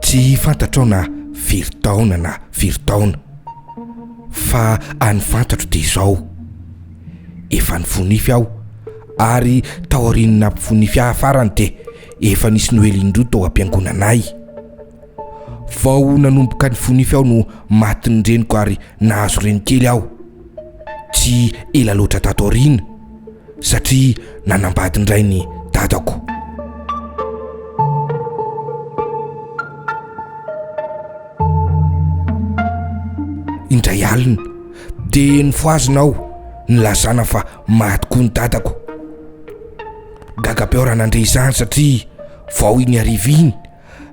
Tsy fantatrao na firy taona na firy taona, fa any fantatro dia izao, efa nifonify aho, ary taorian'ny nampifonify ahy farany dia efa nisy noely indroa tao am-piangonanay. Vao nanomboka nifonify aho no matin'ny reniko ary nahazo reny kely aho. tsy ela loatra tato aoriana satria nanambady indray ny dadako. Indray alina dia nifohazina aho nilazana fa maty koa ny dadako. Gaga be aho raha nandre izany satria vao iny hariva iny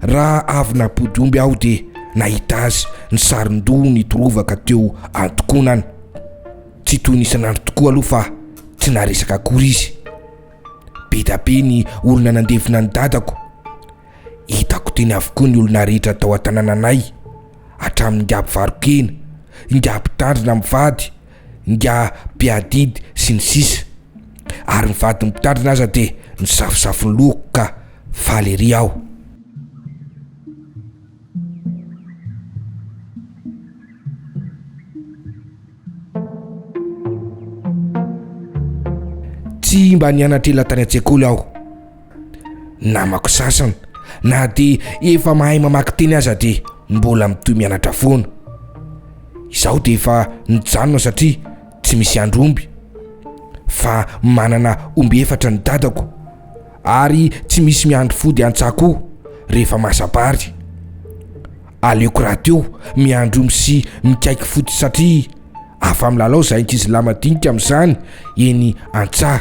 Raha avy nampody omby aho dia nahita azy nisaron-doha nitorovaka teo an-tokonana. Tsy toy ny isan'andro tokoa aloha fa tsy naharesaka akory izy. Be dia be ny olona nandevina an'i dadako. Hitako teny avokoa ny olona rehetra tao an-tanànanay, hatramin'ny ingahy mpivaro-kena, ingahy mpitandrina mivady, ingahy mpiadidy sy ny sisa. Ary ny vadin'ny mpitandrina aza dia nisafosafo ny lohako ka Faly ery aho. Tsy mba nianatr'ela tany an-tsekoly aho. Namako sasany na dia efa mahay mamaky teny aza dia mbola mitohy mianatra foana. Izaho dia efa nijanona satria tsy misy andry omby fa manana omby efatra ny dadako. ary tsy misy miandry fody antsa koa rehefa masabary. Aleoko rahateo miandry omby sy mikaiky fody satria afa-milalao izahay ankizilahy madinika amin'izany eny antsa.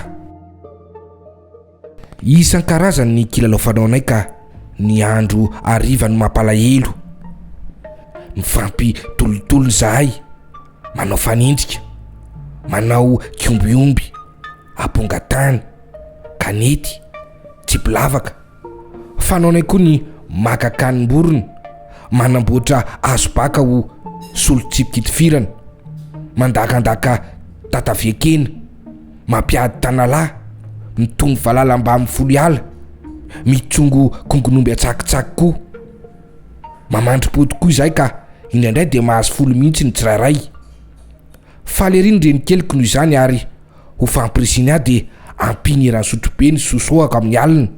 Isan-karazany ny kilalao fanaonay ka ny andro hariva no mampalahelo. Mifampitolotolo izahay, manao fanenjika, manao kiombiomby. aponga tany, kanety, tsipilavaka. Fanaonay koa ny maka kanim-borona, manamboatra hazo baka ho solon-tsipi-kitifirana, mandakandaka tatavian-kena, mampiady tanalahy, mitombo valala mbamin'ny folo-hiala, mitsongo kongon'omby an-tsakitsaky koa. Mamandri-pody koa izahay ka indraindray dia mahazo folo mihitsy ny tsirairay. Faly ery ny renikeliko noho izany ary ho fampirisiny ahy dia ampiany eran'ny sotrobe ny sosohako amin'ny alina.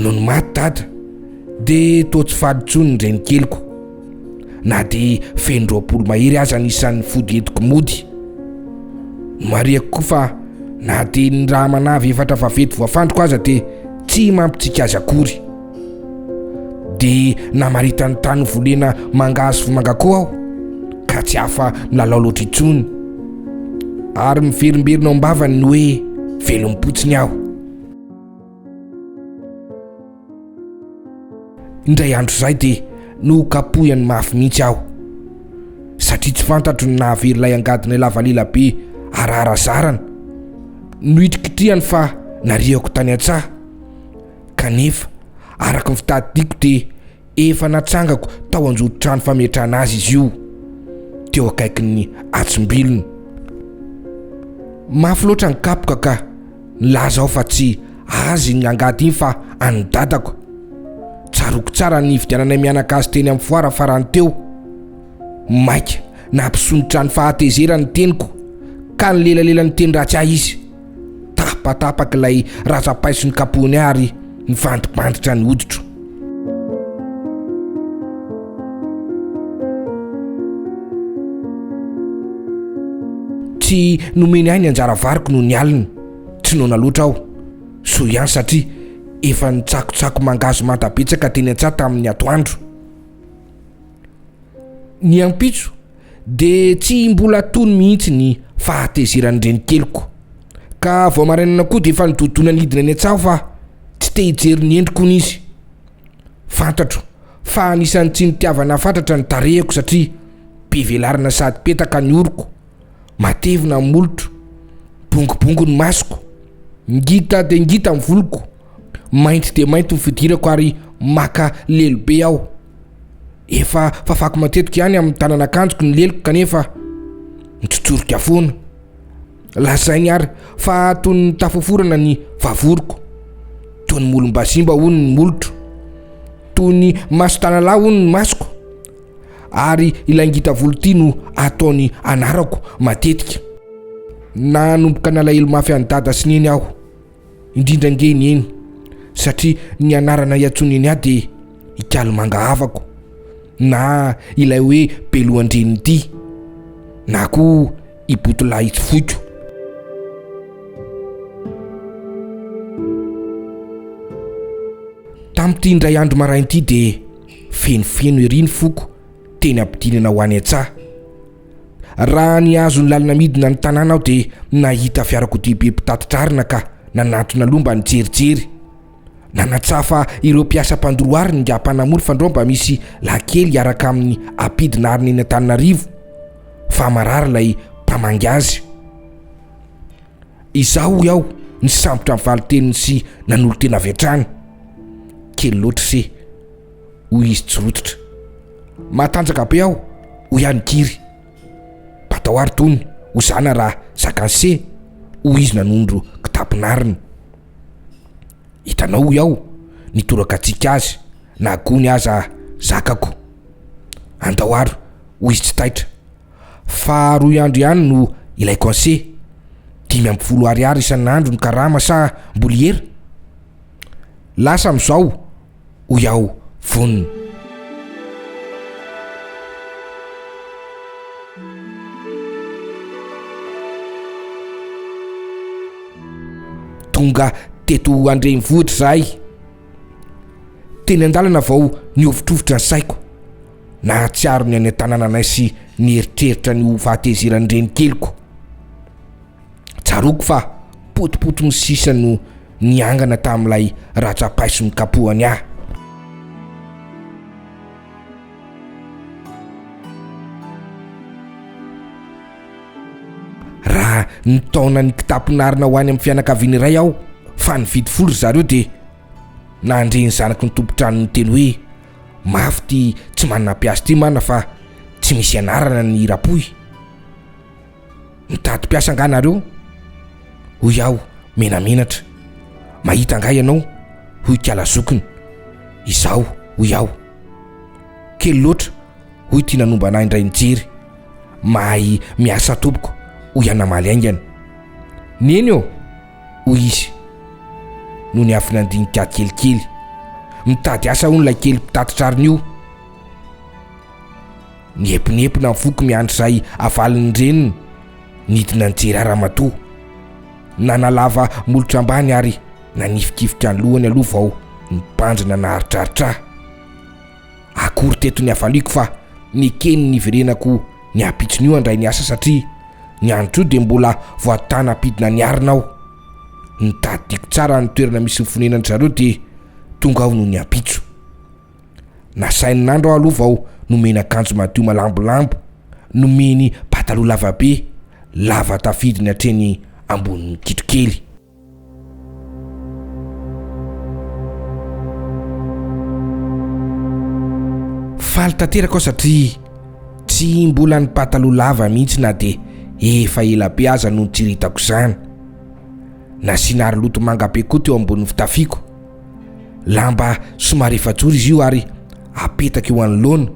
Nony maty dada dia toa tsy faly intsony ny renikeliko na dia feno roapolo mahery aza ny isan'ny fody entiko mody. Marihako koa fa na dia ny raha manavy efatra vavety voafandriko aza dia tsy mampitsiky azy akory. Dia namaritan'ny tany volena mangahazo vomanga koa aho, ka tsy afa milalao loatra intsony. Ary miverimberina ao am-bavany ny hoe velom-potsiny aho. Indray andro izay dia nokapohiny mafy mihitsy aho, satria tsy fantatro ny nahavery ilay angadinay lava lela be araharazarana. Nohitrikitrihany fa nariako tany an-tsaha. Kanefa, araka ny fitadidiako dia efa natsangako tao anjoron-trano fametrahana azy izy io, teo akaikin'ny atsimbilony. Mafy loatra ny kapoka ka nilaza aho fa tsy azy iny angady iny fa an'ny dadako. Tsaroako tsara ny nividiananay mianaka azy teny amin'ny foara farany teo. Maika nampisondrotra ny fahatezerany ny teniko ka nilelalela niteny ratsy ahy izy. Tapatapak'ilay razam-paiso ny kapony ary nivandibanditra ny hoditro. Tsy nomeny ahy ny anjara variko noho ny alina. Tsy noana loatra aho. Soa ihany satria efa nitsakotsako mangahazo manta betsaka teny an-tsaha tamin'ny atoandro. Ny ampitso, dia tsy mbola tony mihitsy ny fahatezeran'ny renikeliko, ka vao marainana koa dia efa nidodona nidina eny an-tsaho fa tsy te hijery ny endriko hono izy. Fantatro fa anisan'ny tsy nitiavana fatratra ny tarehiko satria be velarana sady petaka ny oroko, matevina ny molotro, bongobongo ny masoko, ngita dia ngita ny voloko, mainty dia mainty ny fidirako ary maka lelo be aho. Efa fafako matetika ihany amin'ny tanan'akanjoko ny leloko kanefa mitsotsorika foana. Lazainy ary fa toy ny tafaforana ny vavoriko. Toy ny molom-bazimba hono ny molotro. Toy ny mason-tanalahy hono ny masoko. Ary ilay ngita volo ity no ataony anarako matetika. Nanomboka nalahelo mafy an'i Dada sy Neny aho. Indrindra ange ny eny satria ny anarana iantsoany eny aho dia Ikalimanga havako na ilay hoe Belohan-dRenidia na koa i Botolahy tsy foiko. Tamin'ity indray andro maraina ity dia fenofeno ery ny foko teny am-pidinana ho any an-tsaha. Raha nihazo ny lalana midina ny tanàna aho dia nahita fiarakodia be mpitatitra arina ka nanatona aloha mba nijerijery. Nanatsaha fa ireo mpiasa mpandoro arina ingahy mpanamory fandrao mba misy lahy kely hiaraka amin'ny ampidina arina eny Antananarivo fa marary ilay mpamangy azy. Izaho hoy aho nisambotra ny valin-teniny sy nanolo-tena avy hatrany. Kely loatra ise. hoy izy tsy rototra. Matanjaka be aho, hoy ihany Giry. Batao ary tony, hozana raha zakanse, hoy izy nanondro kitapin'ariny. Hitanao hoy aho, ny torakatsika azy, na gony aza zakako. Andao ary, hoy izy tsy taitra. Fa roy andro ihany no ilaiko anse. Dimy amby folo ariary isan'andro ny karama sa mbola hiera? Lasa amin'izao, hoy aho vonona. Tonga teto an-drenivohitra izahay. Teny an-dalana vao nihovitrovitra ny saiko. Nahatsiaro ny any an-tanànanay sy ny eritreritra ny ho fahatezeran'ny renikeliko. Tsaroako fa potipotin'ny sisa no niangana tamin'ilay ratsa-paiso nikapohany ahy. Raha nitaona ny kitapon'arina ho any amin'ny fianakaviana iray aho fa nividy folo ry zareo dia nandre ny zanaky ny tompon-trano niteny hoe mafy ity tsy manana mpiasa ity mana fa tsy misy anarana ny hira-pohy. Mitady mpiasa angaha nareo? hoy aho menamenatra. Mahita angaha ianao? hoy Kala zokiny. Izaho, hoy aho. Kely loatra, hoy ity nanombana ahy indray nijery. Mahay miasa tompoko, hoy aho namaly haingana. Neny ô! hoy izy no niafina handinika kelikely. Mitady asa hono ilay kely mpitatitra arina io. Niepinepina ny foko miandry izay havalin'ny reniny, nidina nijery ahy ramatoa. Nanalava molotra ambany ary nanifikifika ny lohany aloha vao nibandrina naharitraritra ahy. Akory teto ny hafaliako fa nekeny ny hiverenako ny ampitson'io handray ny asa satria ny andro toa dia mbola voatàna hampidina ny arina aho. Nitadidiako tsara ny toerana misy ny fonenan'dry zareo dia tonga aho nony ampitso. Nasainy nandro aho aloha vao nomeny akanjo madio malambolambo, nomeny pataloha lavabe, lava tafidiny hatreny ambonin'ny kitrokely. Faly tanteraka aho satria tsy mbola ny pataloha lava mihitsy na dia efa ela be aza no nitsiritako izany. Nasiana aroloto manga be koa teo ambonin'ny fitafiako. Lamba somary efajoro izy io ary apetaka eo anoloana.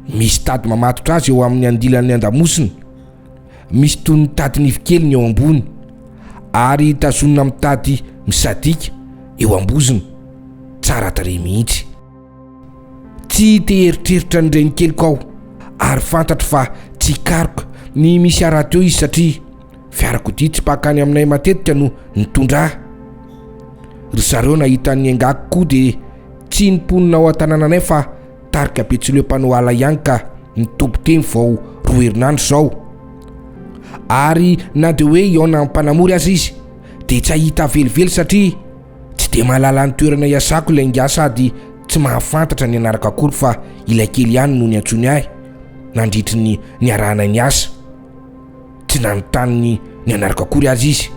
Misy tady mamatotra azy eo amin'ny andilan'ny andamosiny. Misy toy ny tadin-ivy kely ny eo ambony ary tazonina amin'ny tady misadika eo ambozony. Tsara tarehy mihitsy. Tsy te hieritreritra ny renikeliko aho ary fantatro fa tsy hikaroka ny misy harato eo izy satria Fiarakodia tsy mpaka any aminay matetika no nitondra ahy. Ry zareo nahita ny engako koa dia tsy nonponina ao an-tanànanay fa tarika Betsileo mpanao ala ihany ka nitoby teny vao roa herinandro izao. Ary na dia hoe hihaona amin'ny mpanamory aza izy dia tsy hahita velively satria tsy dia mahalala ny toerana iasako ilay ingahy sady tsy mahafantatra ny anarako akory fa ilay kely ihany no niantsoany ahy nandritry ny niarahanay niasa. tsy nanontany ny anarako akory aza izy.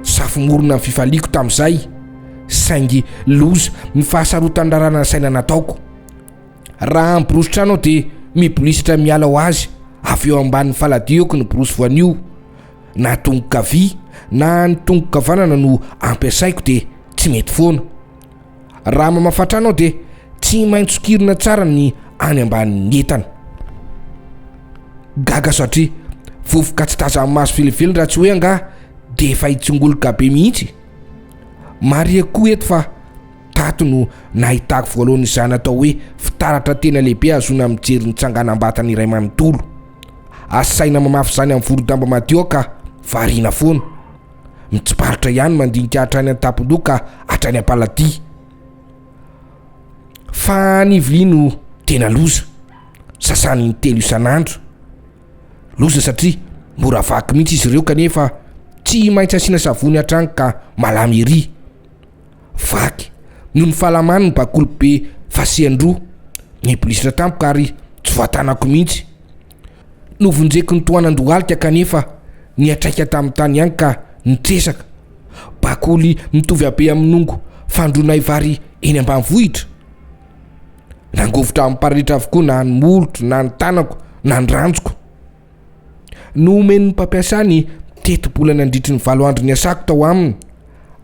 Safomorona ny fifaliako tamin'izay, saingy loza ny fahasarotan-draràna ny saina nataoko. Raha miborosy trano aho dia mibolisitra miala ho azy, avy eo ambanin'ny faladioko ny borosy voanio. Na tongo-kavia na ny tongo-kavanana no ampiasaiko dia tsy mety foana. Raha mamafa trano aho dia tsy maintsy sokirina tsara ny any ambanin'ny entana. Gaga satria vovoka tsy tazan'ny maso velively raha tsy hoe angaha dia efa hitsongoloka be mihitsy. Marihiko koa eto fa tato no nahitako voalohany izany atao hoe fitaratra tena lehibe hahazoana mijery ny tsanganam-batana iray manontolo. Asaina mamafy izany amin'ny vorodamba madio aho ka variana foana. mitsiparitra ihany mandinika hatrany an-tampon-doha ka hatrany am-paladia. Fa ny vilia no tena loza, sasany in-telo isan'andro. Loza satria mora vaky mihitsy izy ireo kanefa tsy maintsy asiana savony hatrany ka malamy ery. Vaky noho ny fahalamany ny bakoly be fasian-droa, nibolisitra tampoka ary tsy voatanako mihitsy. Novonjeko nitohanan-dohalika kanefa niatraika tamin'ny tany ihany ka nitresaka. Bakoly mitovy habe amin'ny nongo fandroanay vary eny ambanivohitra. Nangovitra amin'ny paralitra avokoa na ny molotro na ny tanako na ny ranjoko. Nohomen'ny mpampiasa ny tetibola nandritry ny valo andro niasako tao aminy.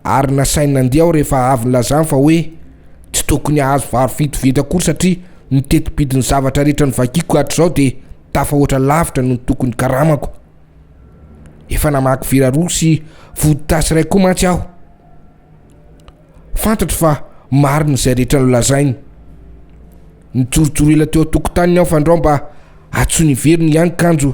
ary nasainy nandihy aho rehefa avy nilazany fa hoe tsy tokony hahazo vary fito vinta akory satria ny teti-bidin'ny zavatra rehetra novakiko hatrizao dia tafahoatra lavitra noho ny tokony karamako. Efa namaky vera roa sy vodittasy iray koa mantsy aho. Fantatro fa marina izay rehetra nolazainy. Nijorojoro ela teo an-tokotaniny aho fandrao mba hatsoiny hiverina ihany kanjo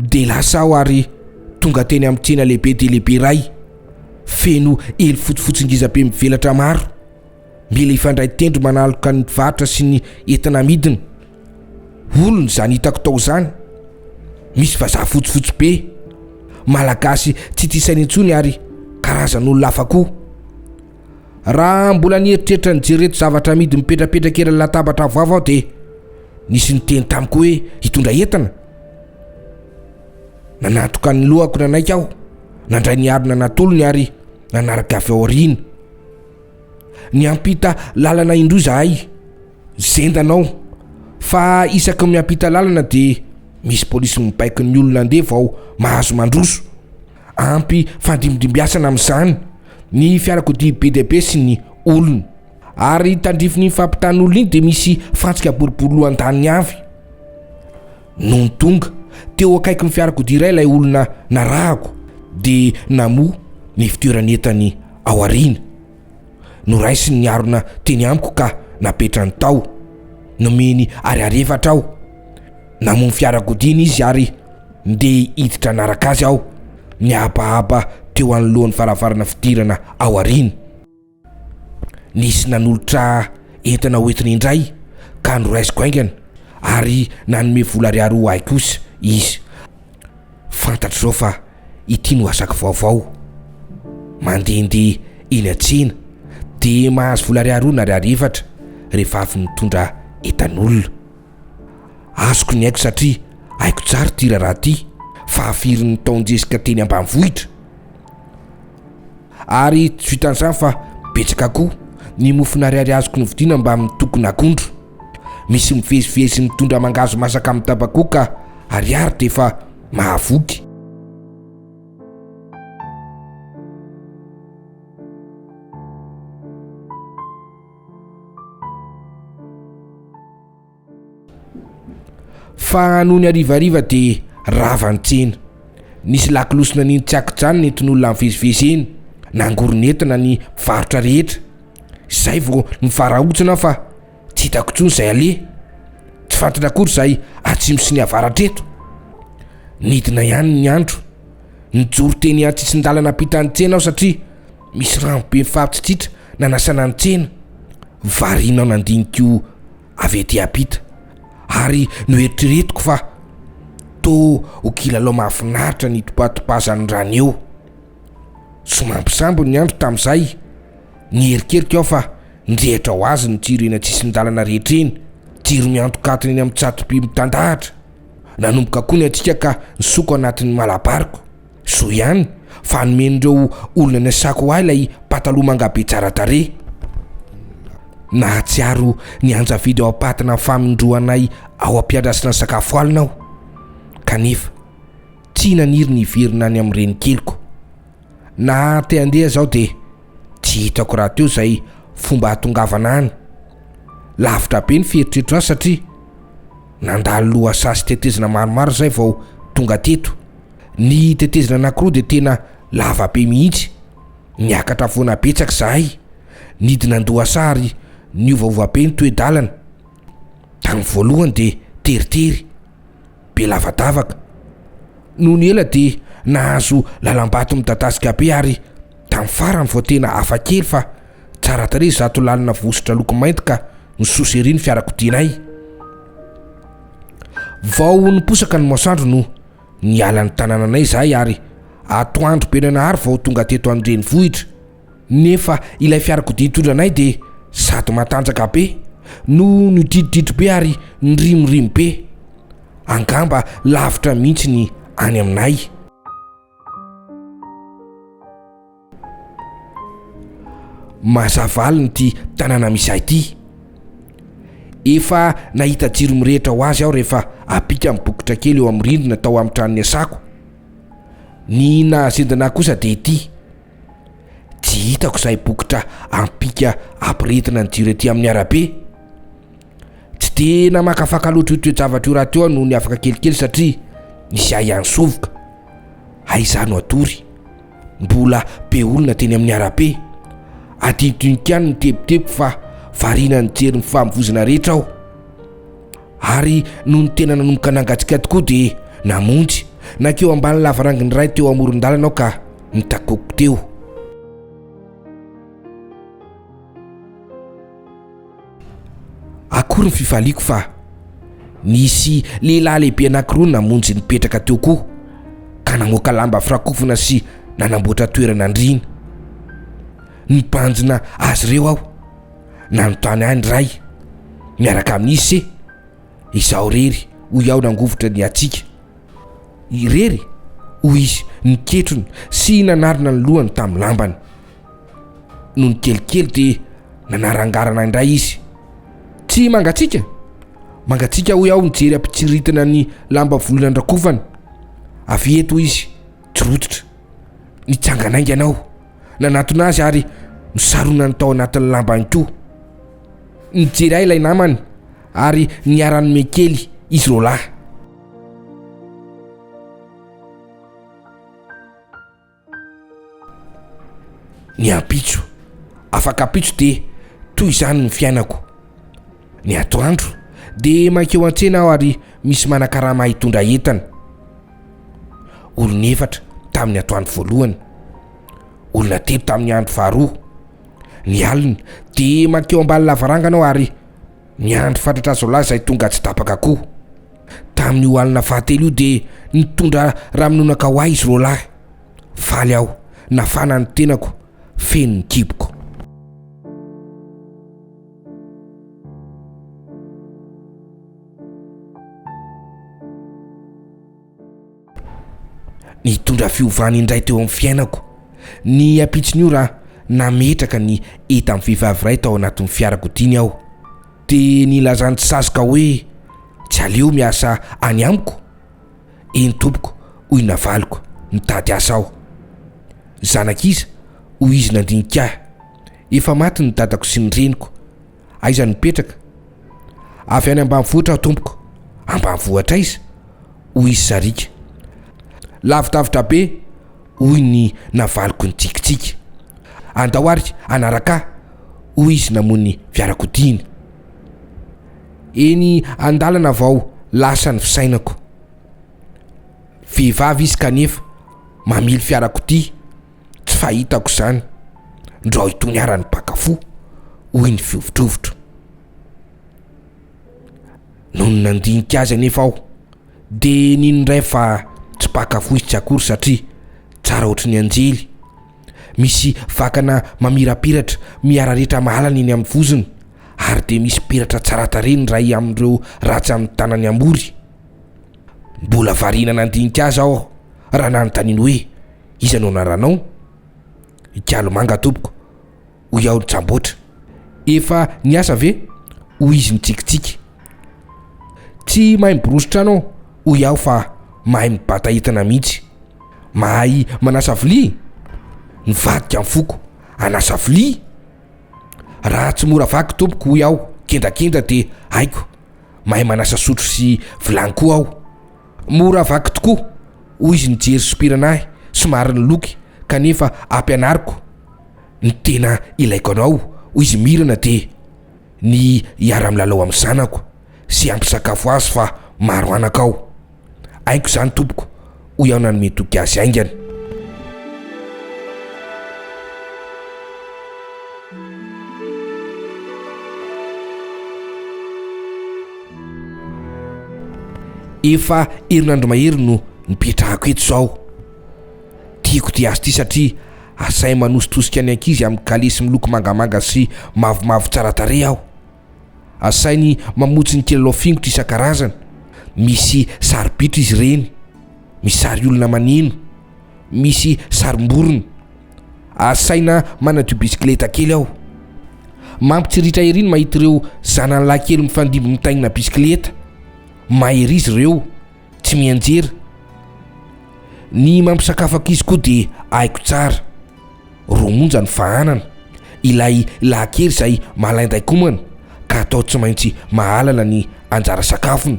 Dia lasa aho ary tonga teny amin'ny tsena lehibe dia lehibe iray, feno elo fotsifotsy ngiza be mivelatra maro. Mila hifandray tendro manaloka ny mpivarotra sy ny entana amidiny. Olona izany hitako tao izany. Misy vazaha fotsifotsy be, Malagasy tsy tia saina intsony ary karazan'olona hafa koa. Raha mbola nieritreritra nijereto zavatra amidy mipetrapetraka eran'ny latabatra avoavo aho dia nisy niteny tamiko hoe hitondra entana. Nanatoka ny lohako nanaiky aho, nandray ny harona natolony ary nanaraka avy ao aoriana. Niampita lalana indroa izahay, zendana aho fa isaky ny miampita lalana dia misy polisy mibaiko ny olona andevo vao mahazo mandroso. Ampy fandimidimbiasana amin'izany ny fiarakodia be dia be sy ny olona. Ary tandrifin'iny fampitan'olona iny dia misy fantsika boribory lohan-daniny avy. Nony tonga teo akaikin'ny fiarakodia iray ilay olona narahako dia namoha ny fitoeran'entany ao aoriana. Noraisin'ny harona teny amiko ka napetrany tao. Nomeny ariarefatra aho. Namono fiarakodiany izy ary ndeha hiditra hanaraka azy aho. Nihabahaba teo anoloan'ny varavarana fidirana ao aoriany. Nisy nanolotra entana hoentiny indray ka noraisiko haingana ary nanome vola ariary ho ahy kosa izy. Fantatro izao fa ity no asako vaovao. Mandehandeha eny an-tsena dia mahazo vola ariary roa na ariary efatra rehefa avy mitondra entan'olona. Azoko ny aiko satria haiko tsara ity raharaha ity fa firy ny taon-jesika teny ambanivohitra. Ary tsy vitan'izany fa betsaka koa ny mofon'ariary azoko novidiana mbamin'ny tokon'akondro. Misy mivezivezy mitondra mangahazo masaka amin'ny tabakoka ariary dia efa mahavoky. Fa nony harivariva dia rava ny tsena. Nisy lakolosy nanino tsy an-kijanona entin'olona nivezivezy eny. Nangoron'entana ny mpivarotra rehetra. Zay vao nivarahontsina aho fa tsy hitako intsony izay aleha. Tsy fantatra akory izay atsimo sy ny avaratra eto. Nidina ihany ny andro. Nijoro teny an-tsisin-dalana ampitan'ny tsena aho satria misy rano be mifampitsitsitra nanasana ny tsena. Variana aho nandinika avy ety ampita ary noeritreretiko fa toa ho kilalao mahafinaritra ny itopatopazan'ny rano eo. Somary sambo ny andro tamin'izay. Niherikerika aho fa nirehitra ho azy ny jiro eny an-tsisin-dalana rehetra eny, jiro miantokantona eny amin'ny tsatoby mitandahatra. Nanomboka koa ny hatsiaka ka nisoko anatin'ny malabariko. Soa ihany fa nomen'ireo olona niasako ahy ilay pataloha mangabe tsara tarehy. Nahatsiaro nianjavidy ao am-patina ny famindroanay ao am-piandrasana sakafo alina aho, kanefa. Tsy naniry ny hiverina any amin'ny renikeliko. Naha te handeha zaho dia tsy hitako rahateo izay fomba hahatongavana any. Lavitra be ny fieritreritro azy satria nandalo lohasaha sy tetezana maromaro izay vao tonga teto. Ny tetezana anankiroa dia tena lava be mihitsy. Niakatra foana betsaka izahay, nidina an-dohasaha ary niovaova be ny toe-dalana. Tamin'ny voalohany dia teritery. be lavadavaka. Nony ela dia nahazo lalam-bato midadasika be ary tamin'ny farany vao tena hafa kely fa tsara tarehy izato lalina vositra loko mainty ka nisosa ery ny fiarakodianay. Vao niposaka ny masoandro no niala ny tanananay izahay ary atoandro be nanahary vao tonga teto an-drenivohitra. Nefa ilay fiarakodia nitondra anay dia sady matanjaka be no nidridridry be ary nirimorimo be. Angamba lavitra mihitsy ny any aminay. Mazavalona ity tanàna misy ahy ity. Efa nahita jiro mirehitra ho azy aho rehefa ampika amin'ny bokotra kely eo amin'ny rindrina tao amin'ny trano niasako. Ny nahazendana ahy kosa dia ity. Tsy hitako izay bokotra ampika ampirehetina ny jiro ety amin'ny arabe. Tsy dia namakafaka loatra io toe-javatra io rahateo aho noho ny afaka kelikely satria nisy ahy ihany sovoka. Hay izaho no hatory. Mbola be olona teny amin'ny arabe. Adinodinoko ihany ny tebiteby fa variana nijery ny famovoizana rehetra aho. Ary nony tena nanomboka nangatsika tokoa dia namonjy. Nankeo ambany lavaranginy iray teo amoron-dalana aho ka nitakoko teo. Akory ny fifaliako fa nisy lehilahy lehibe anankiroa namonjy nipetraka teo koa ka namoaka lamba firakofana sy nanamboatra toerana andriana. Nibanjina azy ireo aho. nanontany ahy ny ray miaraka amin'ny izy se izaho rery hoy aho nangovitra ny hatsiaka irery hoy izy niketrony sy nanarina ny lohany tamin'ny lambany no ny kelikely dia nanarangarana indray izy tsy mangatsiaka mangatsiaka hoy aho nijery ampitsiritina ny lamba volona andrakofana avy eto izy tsy rototra nitsanganaingana aho Nanatona azy ary nosaronany tao anatin'ny lambany koa. Nijery ahy ilay namany ary niara-nome kely izy roalahy. Ny ampitso, afak'ampitso dia toy izany ny fiainako. Ny atoandro dia mankeo an-tsena aho ary misy manakarama hitondra entana. Olona efatra tamin'ny atoandro voalohany, olona telo tamin'ny andro faharoa. Ny alina dia mankeo ambany lavarangana aho ary miandry fatratra azo lahy izay tonga tsy tapaka koa. Tamin'io alina fahatelo io dia nitondra raminonaka ho ahy izy roa lahy. Faly aho, nafana ny tenako, feno ny kiboko. Nitondra fiovana indray teo amin'ny fiainako ny ampitson'io raha nametraka ny entan'ny vehivavy iray tao anatin'ny fiarakodiany aho. Dia nilazan'ny tsy sazoka hoe tsy aleo miasa any amiko. Eny tompoko, hoy ny navaliko, mitady asa aho. Zanak'iza? hoy izy nandinika ahy. Efa maty ny dadako sy ny reniko, Aiza no mipetraka? Avy any ambanivohitra aho tompoko. Ambanivohitra aiza? hoy izy sariaka. Lavidavitra be, hoy ny navaliko nitsikitsiky. Andao ary hanaraka ahy, hoy izy namoha ny fiarakodiany. Eny an-dalana vao lasa ny fisainako. Vehivavy izy kanefa mamily fiarakodia. Tsy fahitako izany ndrao itony ara ny mpaka fo, hoy ny fihovitrovitro. Nony nandinika azy anefa aho dia nino indray fa tsy mpaka fo izy tsy akory satria tsara ohatry ny anjely. Misy vakana mamirapiratra miararetra mahalana eny amin'ny vozony ary dia misy peratra tsara tarehy ny iray amin'ireo ratsy amin'ny tanany ambory. Mbola variana nandinika azy aho raha nanontaniany hoe. Iza no anaranao? I Gialomanga tompoko, hoy aho nitsamboatra. Efa niasa ve? hoy izy nitsikitsiky. Tsy mahay miborosy trano aho, hoy aho fa mahay mibata entana mihitsy. Mahay manasa vilia? Nivadika ny foko. Hanasa vilia? Raha tsy mora vaky tompoko, hoy aho kendakenda dia haiko. Mahay manasa sotro sy vilany koa aho. Mora vaky tokoa, hoy izy nijery sompirana ahy somary niloky kanefa ampianariko ny tena ilaiko anao hoy izy mirana dia ny hiara-milalao amin'ny zanako sy hampisakafo azy fa maro anaka ao. Haiko izany tompoko hoy aho nanome toky azy haingana. Efa herinandro mahery no nipetrahako eto izao. Tiako dia azy ity satria asainy manositosika ny ankizy amin'ny kalesy miloko mangamanga sy mavomavo tsara tarehy aho. Asainy mamotsy ny kilalao fingotra isan-karazany, misy sary-bitro izy ireny, misy sary olona maneno. misy sarim-borona. Asaina manadio bisikileta kely aho. Mampitsiritra ery ny mahita ireo zanany lahy kely mifandimby mitaingina bisikileta. Mahery izy ireo, tsy mianjera. Ny mampisakafo ankizy koa dia haiko tsara. Roa monja ny fahanana. Ilay lahy kely izay malain-daikomana ka atao tsy maintsy mahalana ny anjara sakafony.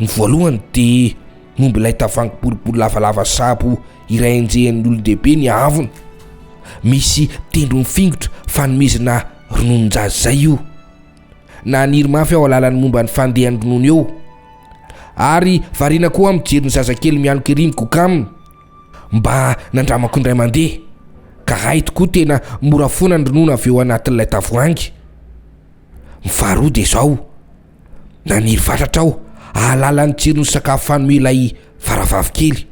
Ny voalohany dia momba ilay tavoahangy boribory lavalava sabo iray enjehin'ny olon-dehibe ny haavony. Misy tendrony fingotra fanomezana rononon-jaza izay io. Naniry mafy aho hahalala ny momba ny fandehan'ny ronono eo, ary variana koa aho mijery ny zazakely mialoka ery mikoka aminy, mba nandramako indray mandeha, ka hay tokoa tena mora foana ny ronono avy eo anatin'ilay tavoahangy. Ny faharoa dia izao, Naniry fatratra aho hahalala ny tsiron'ny sakafo fano ilay faravavy kely.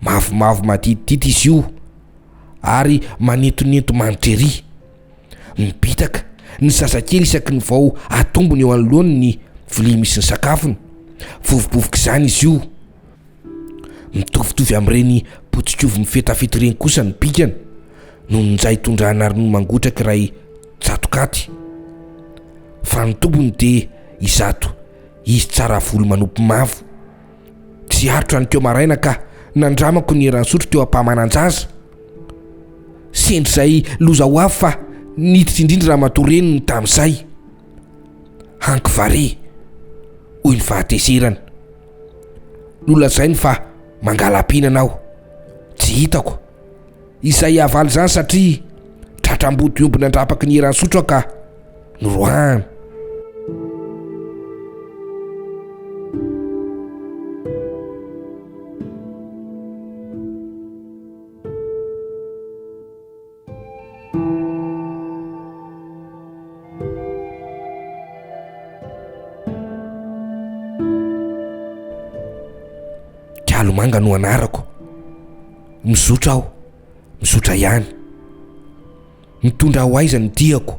Mavomavo maditidity izy io ary manintonento manitra ery. Mibitaka ny zazakely isaky ny vao atombony eo anoloany ny vilia misy ny sakafony. Vovobovok'izany izy io. Mitovitovy amin'ireny potikovy mifetafeta ireny kosa ny bikany, noho ny njay tondrahana ronono mangotraka iray tsato katy. Fa ny tompony dia izato izy tsara volo manopy mavo. Tsy arotra ny teo maraina ka nandramako ny eran-sotro teo am-pahamanan-jaza. Sendra izay loza ho avy fa niditra indrindra ramatoa reniny tamin'izay. Hanky vare! hoy ny fahatezerany. Nolazainy fa mangala-pihinana aho. Tsy hitako izay havaly izany satria tratra ambody omby nandrapaky ny eran'ny sotro aho ka noroahany. Dralomanga no anarako. Mizotra aho, mizotra ihany. Mitondra ho aiza ny diako?